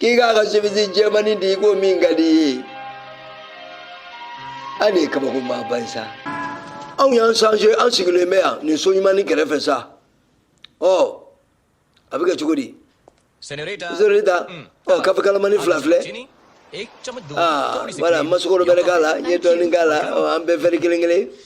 kikaka simizi jɛmani di ko min ka di ani kabako ma ban sa anw y'an sanze an sigilen bɛ yan nin so ɲuman ni kɛrɛfɛ sa ɔ a bɛ kɛ cogo di senorita ɔ kafe kalamani fila filɛ aa wala n ma sukaro bɛrɛ k'a la n ye dɔɔnin k'a la an bɛɛ wɛri kelen kelen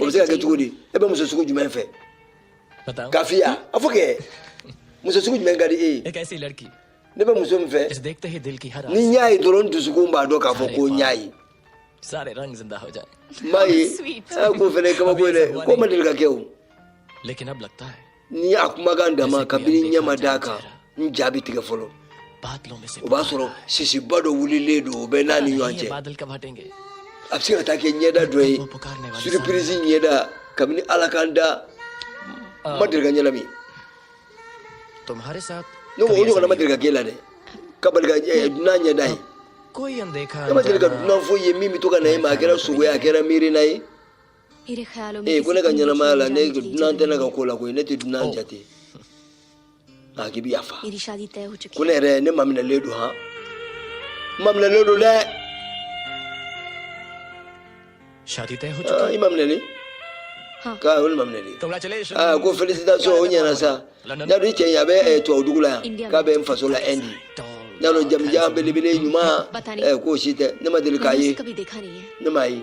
o bɛ se ka kɛ cogo di e bɛ muso sugu jumɛn fɛ kafiya a fɔ kɛ muso sugu jumɛn ka di e ye ne bɛ muso min fɛ ni n y'a ye dɔrɔn dusukun b'a dɔn k'a fɔ ko n y'a ye n m'a ye a ko fɛnɛ kabako ye dɛ ko ma deli ka kɛ o ni a kumakan dama kabini n ɲɛ ma d'a kan n ja bɛ tigɛ fɔlɔ o b'a sɔrɔ sisiba dɔ wulilen don o bɛ n'a ni ɲɔgɔn cɛ a bɛ se ka taa kɛ ɲɛda dɔ ye suripirizi ɲɛda kabini ala ka n da n ma deli ka ɲɛnami ne ko o ɲɔgɔnna ma deli ka k'e la dɛ ka bali ka dunan ɲɛda ye ne ma deli ka dunan foyi ye min bɛ to ka na e ma a kɛra sugo ye a kɛra miirina ye ee ko ne ka ɲɛnamaya la ne dunan tɛ ne ka ko la koyi ne tɛ dunan oh. jate nka k'i bɛ yafa ko ne yɛrɛ ne maminɛlen don han n maminɛlen don dɛ ah, i maminɛlen k'a olu maminɛlen aa ah, ko felisitasɔn o ɲɛna sa n'a dun cɛ in a bɛ eh, tubabu dugu la yan k'a bɛ n faso la ɛndi n'a dɔn jamanjan belebele ɲuman eh, k'o si tɛ ne ma deli k'a ye ne m'a ye.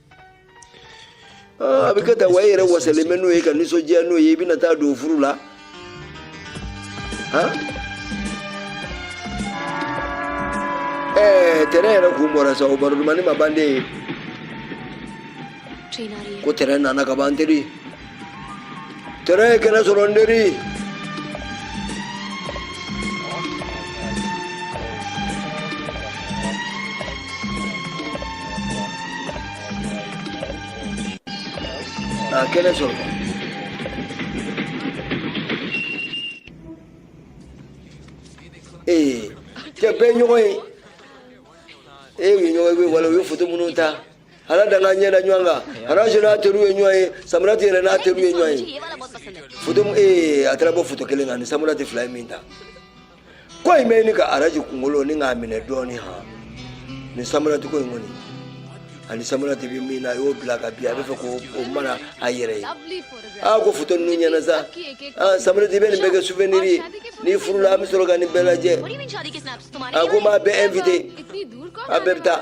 a bɛ kɛ tan wa i yɛrɛ wasalen bɛ n'o ye ka nisɔndiya n'o ye i bɛna taa don furu la ɛɛ tɛrɛn yɛrɛ kun bɔra sa o baro dumani ma ban dɛ ko tɛrɛn nana ka ban teri Tɛrɛn ye kɛnɛ sɔrɔ n teri. A kɛnɛ sɔrɔ. Ee cɛ bɛɛ ye ɲɔgɔn ye. U ye ɲɔgɔn ye, u ye wala, u ye foto minnu ta. Ala da k'an ɲɛ da ɲɔgɔn kan araji n'a teriw ye ɲɔgɔn ye samarati yɛrɛ n'a teriw ye ɲɔgɔn ye foto mun- ee a taara bɔ foto kelen kan ni samarati fila ye min ta ko in bɛ ɲini ka araji kunkolo ni k'a minɛ dɔɔni han nin samarati ko in kɔni ani samarati bɛ min na a y'o bila ka bin a bɛ fɛ k'o o mara a yɛrɛ ye aa ko foto ninnu ɲɛna sa aa samarati bɛ nin bɛɛ kɛ souvenir ye n'i furula an bɛ sɔrɔ ka nin bɛɛ lajɛ aa ko n b'a bɛɛ invité a bɛɛ bɛ taa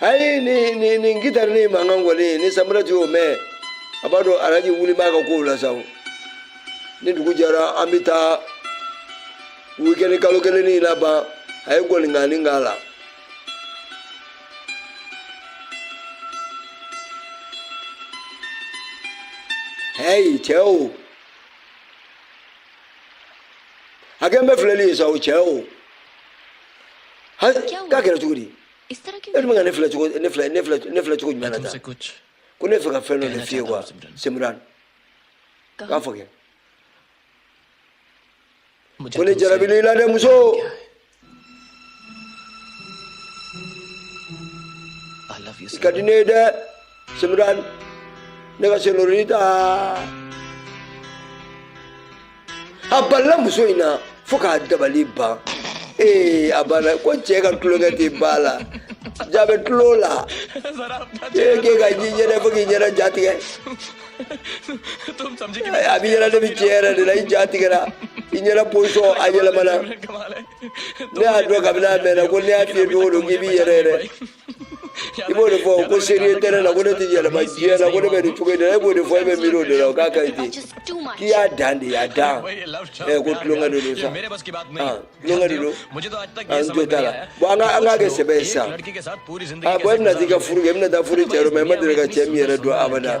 ayi ni ni ni gitari ni mankan kɔni ni semran de y'o mɛn a b'a dɔn araji wuli b'a ka kow la sa o ni dugu jɛra an bɛ taa wikɛni kalo kelen ni laban a ye gɔningani k'a la hɛyi cɛ o a kɛn bɛ filɛli ye sa o cɛ o ha k'a kɛra cogo di e dun bɛ ka ne filɛ cogo ne filɛ cogo jumɛn na tan ko ne fɛ ka fɛn dɔ de f'i ye wa semran k'a fɔ kɛ ko ne jarabilen i la dɛ muso i ka di ne ye dɛ semran ne ka senorita a balala muso in na fo k'a dabali ban ee a banna ko cɛɛ ka tulonkɛ tɛ ba la jaa bɛ tulon la ee k'e ka ji ɲɛnɛ fo k'i yɛrɛ ja tigɛ a b'i ɲɛ na ne bɛ tiɲɛ yɛrɛ de la i ja tigɛra i ɲɛda pozisɔn a yɛlɛmana ne y'a dɔn kabini a mɛnna ko ne y'a f'i ye don o don k'i b'i yɛrɛ yɛrɛ i b'o de fɔ ko sérieux tɛ ne la ko ne tɛ yɛlɛma diɲɛ na ko ne bɛ nin cogo in na e b'o de fɔ e bɛ miiri o de la o k'a ka ɲi ten k'i y'a dan de y'a dan ɛ ko tulonkɛ de don sa ah, tulonkɛ de don an jo t'a la bɔn an ka an k'a kɛ sɛbɛ ye sisan a bɔn e bɛna t'i ka furu kɛ e bɛna taa furu cɛ dɔ ma e ma deli ka cɛ min yɛrɛ dɔn abada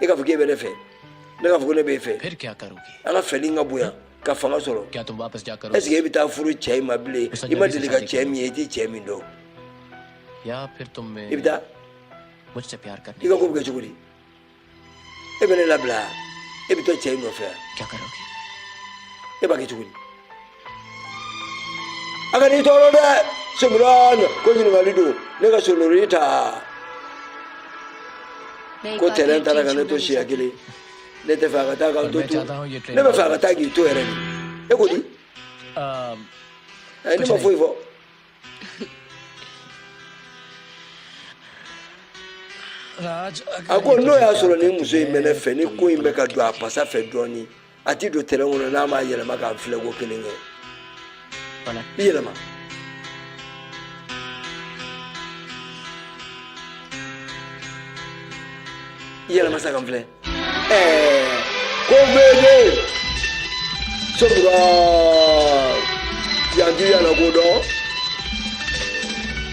e k'a fɔ k'e bɛ ne fɛ ne k'a fɔ ko ne b'e fɛ an ka feeling ka bonya ka fanga sɔrɔ est ce que e bɛ taa furu cɛ in ma bilen i ma deli ka cɛ min ye i tɛ cɛ min dɔn i bɛ taa i ka ko bɛ kɛ cogo di e bɛ ne labila e bɛ to cɛ in nɔfɛ e b'a kɛ cogo di a kan'i tɔɔrɔ dɛ simuran ko ɲininkali don ne ka senorita ko tɛrɛn taara ka ne to siɲɛ kelen ne tɛ fɛ a ka taa ka n to tugun ne bɛ fɛ a ka taa k'i to yɛrɛ de e ko di ne ma foyi fɔ a ko n'o y'a sɔrɔ nin muso in bɛ ne fɛ ni ko in bɛ ka don a pasa fɛ dɔɔnin a tɛ don tɛrɛn kɔnɔ n'a m'a yɛlɛma k'a filɛ ko kelen kɛ i yɛlɛma i yɛlɛma sa ka n filɛ ko bebe sobura yanju yala ko dɔn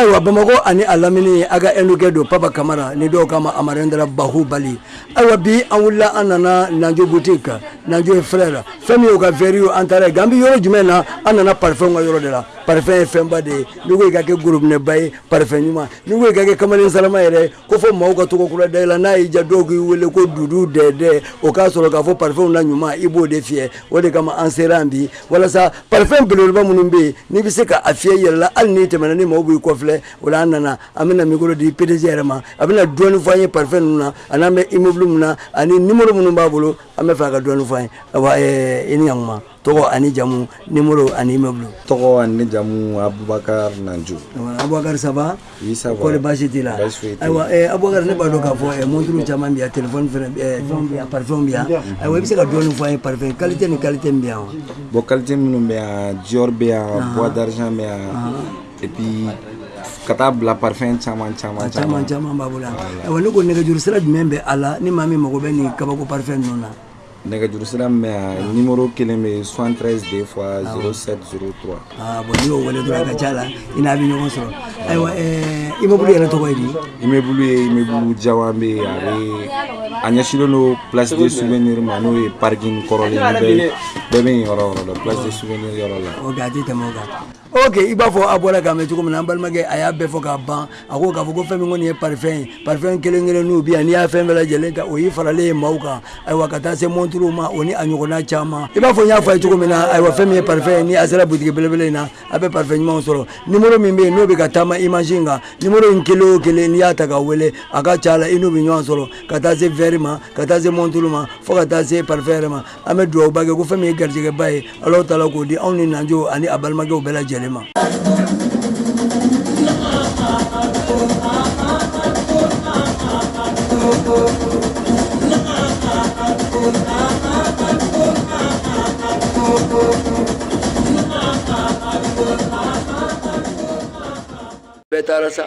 ayiwa bamakɔ ani a lamini a ka ɛnukɛ don papa kamara ni dɔw k'a ma amarendra bahubali ayiwa bi an wulila an nana nanjo boutique kan nanjo et frère la fɛn min y'o ka vɛri ye an taara yen nka an bɛ yɔrɔ jumɛn na an nana parfɛnw ka yɔrɔ de la parfɛn ye fɛnba de ye n'i ko i ka kɛ gorobinɛba ye parfɛn ɲuman n'i ko i ka kɛ kamalen salama yɛrɛ ye ko fo maaw ka tɔgɔ kura da i la n'a y'i diya dɔw k'i wele ko dudu dɛdɛ o k'a sɔrɔ k'a fɔ parfɛnw na ɲuman i b'o de fiyɛ o de kama an sera bi walasa parfɛn beleba minnu bɛ yen n'i bɛ se ka a fiyɛ i yɛrɛ la hali n'i tɛmɛna ni maaw b'i kɔfilɛ o la an nana an bɛna mikoro di pdg yɛrɛ ma a bɛna dɔɔnin fɔ an ye parfɛn ninnu na ani n'an bɛ immeuble min na ani numéro minnu b'a bolo an b'a fɛ a ka dɔɔnin fɔ an ye i ni ɲ tɔgɔ ani jamu nimoro ani immeuble tɔgɔ ani jamu abubakar nanjo abubakar ça va kɔri basi t'i la ayiwa eh, abubakar ne b'a dɔn k'a fɔ eh, monturu caman bɛ yan telefɔni fɛnɛ eh, vɛriw bɛ yan parifɛnw bɛ yan ayiwa i bɛ se ka dɔɔni fɔ an ye parifɛn kalite ni kalite min bɛ yan wa bon kalite minnu bɛ yan dior bɛ yan bois d'argent bɛ yan et puis ka taa bila parfɛn caman caman caman caman b'a bolo yan ayiwa ne ko nɛgɛjuru sira jumɛn bɛ a la ni maa min mago bɛ nin kabako parfɛn ninnu na nɛgɛjurusira min bɛ yan numéro kelen bɛ 73 deux fois 07 03 ah bon n'i y'o wele dɔrɔn a ka ca la i n'a bɛ ɲɔgɔn sɔrɔ ayiwa ɛɛ immeuble yɛrɛ tɔgɔ ye di immeuble ye immeuble jawanbɛ ye a bɛ a ɲɛsinnen don place de souvenir ma n'o ye parking kɔrɔlen ye bɛɛ bɛɛ bɛ yen yɔrɔ o yɔrɔ la place de souvenir yɔrɔ la ok a tɛ tɛmɛ o kan ok i b'a fɔ a bɔra k'a mɛn cogo min na an balimakɛ a y'a bɛɛ fɔ k'a ban a ko k'a fɔ ko fɛn min kɔni ye parfɛn ye parfɛn kelen kelen n'u bi yan n'i y'a fɛn bɛɛ lajɛlen ta o y'i faralen ye maaw kan ayiwa ka taa se monturuw ma o ni a ɲɔgɔnna caman i b'a fɔ n y'a fɔ a ye cogo min na ayiwa fɛn min ye parfɛn ye ni a sera butigi belebele in na a bɛ parfɛn ɲumanw sɔrɔ nimoro min bɛ yen n'o bɛ ka taama image in kan nimoro in kelen o kelen n'i y'a ta ka wele a ka ca a la i n'u bɛ ɲɔgɔn sɔrɔ ka taa se verre ma ka taa se monturu ma fo ka taa se parfɛn yɛrɛ ma an bɛ dugawuba kɛ ko fɛn min ye garijɛgɛba ye ala taala k'o di anw ni nanjo ani a balimakɛw bɛɛ lajɛlen ma bɛɛ taara sa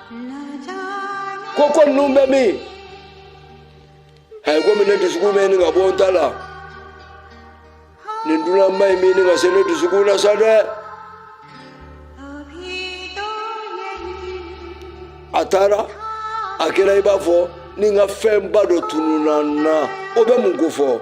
koko numbe mi hay ko min ne dusukun me ni ka bɔ n ta la nin dunanba in mi ni ka se ne dusukun na sa dɛ a taara a kɛra i b'a fɔ ni n ka fɛnba dɔ tununna n na o bɛ mun kofɔ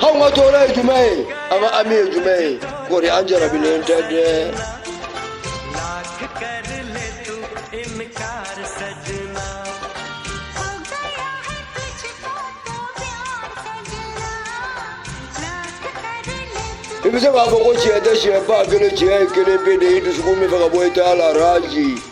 hau ma tora ya jumaye amma ami ya jumaye kori an jarabilen ta de i bɛ se k'a fɔ ko tiɲɛ tɛ tiɲɛ ba kelen tiɲɛ ye kelen pe de ye dusukun min fɛ ka bɔ i t'a la raji